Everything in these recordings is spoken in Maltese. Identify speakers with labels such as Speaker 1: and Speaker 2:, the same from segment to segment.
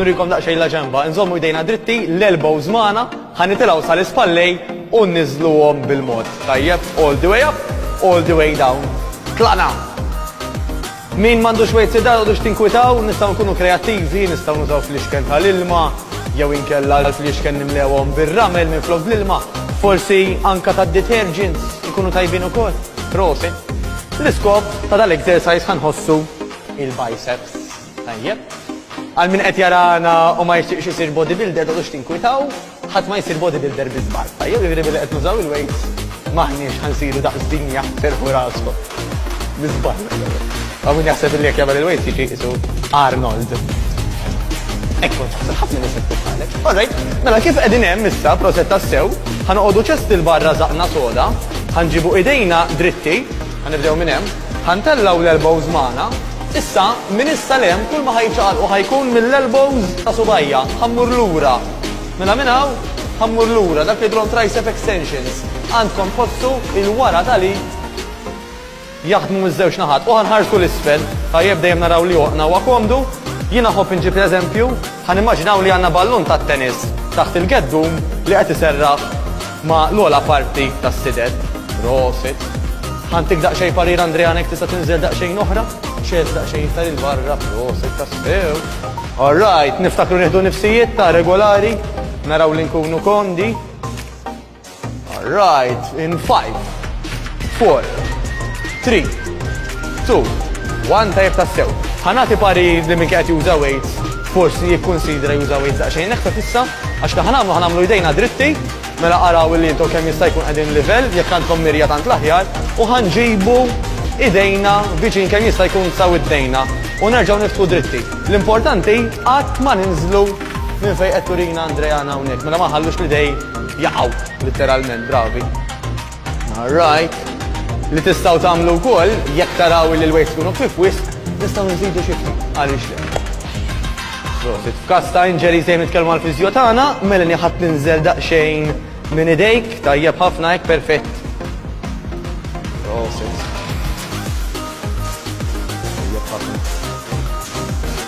Speaker 1: Nurikom daqxej la ġemba, nżommu jdejna dritti, l-elbows maħna, ħanitilaw sal-ispallej u nizluwom bil-mod. Tajjeb, all the way up, all the way down. Tlaqna! Min mandu xwejt sidda u dux tinkwitaw, nistaw nkunu kreativi, nistaw nużaw fl-iċken tal-ilma, jew inkella fl-iċken nimlewom bil-ramel minn flok l-ilma, forsi anka ta' detergents ikunu tajbin u kol. Prosit! L-iskop ta' dal-exercise ħanħossu il-biceps. Tajjeb. Għal min qed jarana u ma jixtieqx isir bodybuilder tgħodux tinkwitaw, ħadd ma jsir bodybuilder bi żball. Tajjeb jiġri billi qed nużaw il-weights maħniex ħansiru daqs dinja terħu raskom. Bi żball. Għaw min jaħseb li jekk jagħmel il-weights jiġi isu Arnold. Ekku, taħseb ħafna nies qed titħallek. Alright, mela kif qegħdin hemm issa proset tassew, ħanoqogħdu ċest il-barra żaqna soda, Ħa nġibu idejna dritti, ħa nibdew minn hemm, ħa ntellgħu l-elbows magħna, issa minn issa 'l hemm kulma ħa jiċċaqalqu ħa jkun mill-elbows ta' subgħajja, ħa mmur lura, mela minn hawn ħa mmur lura, dak li jidhrom tricep extensions, għandkom tħossu il-wara tal-id, Jaħdmu miż-żewġ naħat. U ħa nħarsu 'l isfel. Tajjeb, dejjem naraw li għoqna huwa komdu. Jien nħobb inġib l-eżempju. Ħa nimmaġinaw li għandna ballun tat-tennis taħt il-geddum li qed iserraħ ma' l-ogħla parti tas-sider. Prosit. Ħa ntik daqsxejn parir Andrean hekk tista' tinżel daqsxejn oħra. X'għedt daqsxejn iktar 'il barra. Prosit tassew. All right, niftakru nieħdu nifsijiet ta' regolari. Naraw li nkunu komdi. All right, in 5, 4, 3, 2, 1, tajb tassew. Ħanati pari li minn kħet juża weights, forsi jikkonsidra juża weights daqxejn neħta fissa, għax ta' ħanamlu ħanamlu jdejna dritti, mela għaraw li jintu kemm jista' jkun qegħdin livell, jekk għandkom mirja tant l-aħjar, u ħanġibu idejna viċin kemm jista' jkun saw id-dejna u nerġgħu niftħu dritti. L-importanti qatt ma ninżlu minn fejn qed turina Andrea hawnhekk, mela ma ħallux li dej jaqgħu litteralment, bravi. All right. Li tistgħu tagħmlu wkoll, jekk taraw li l-weights ikunu ħfief wisq, nistgħu nżidu xi ftit, għaliex le. Prosit. F'każ ta' injuries dejjem nitkellmu mal-fiżjo tagħna, Melanie ħa tinżel daqsxejn minn idejk, tajjeb ħafna hekk, perfett. Prosit. Tajjeb ħafna.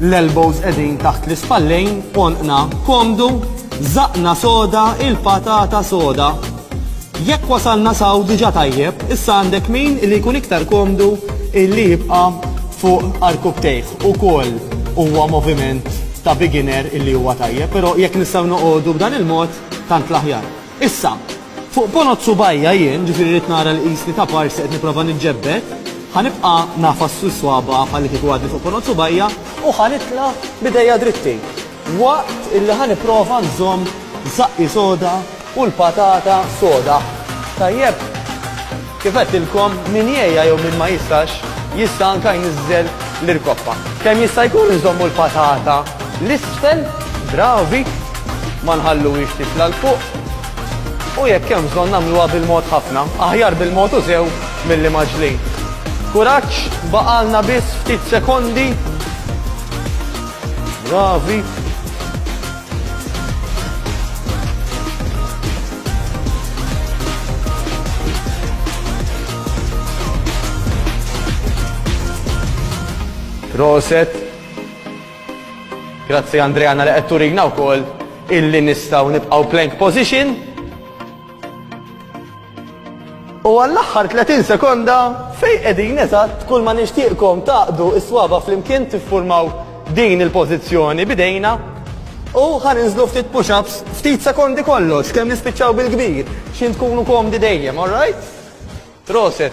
Speaker 1: L-elbows qegħdin taħt l-ispallejn, għonqna komdu, żaqqna soda, il-patata soda. Jekk wasalna s'hawn diġà tajjeb, issa għandek min li jkun iktar komdu li jibqa' fuq arkupptejh. Ukoll huwa moviment ta' beginner li huwa tajjeb, però jekk nistgħu noqogħdu b'dan il-mod tant l-aħjar. Issa, fuq ponot subgħajja jien, ġifieri rrid nara li qisni ta' parsi qed nipprova niġġebbed, ħa nibqa' ngħafas fis-swaba' bħallikieku għadni fuq ponot subgħajja u ħa nitla' b'idejja dritti, waqt illi ħa nipprova nżomm żaqqi soda u l-patata soda tajjeb. Kif għedtilkom, min jegħja jew min ma jistax, jista' anka jniżżel l-irkoppa. Kemm jista' jkun nżommu l-patata l-isfel, bravi, ma nħalluhiex titla' 'l fuq. U jekk hemm bżonn nagħmluha bil-mod ħafna, aħjar bil-mod u sew milli maġlin. Kuraġġ, baqgħalna biss ftit sekondi. Bravi. Roset. Grazzi Andreana li qed turina wkoll illi nistgħu nibqgħu plank position. U għall-aħħar 30 sekonda fejn qegħdin eżatt kull ma nixtieqkom tgħaqqdu s-swaba' flimkien tiffurmaw din il-pożizzjoni b'idejna u ħa ninżlu ftit push ups ftit sekondi kollox kemm nispiċċaw bil-kbir x'ħin tkunu komdi dejjem alright? Proset.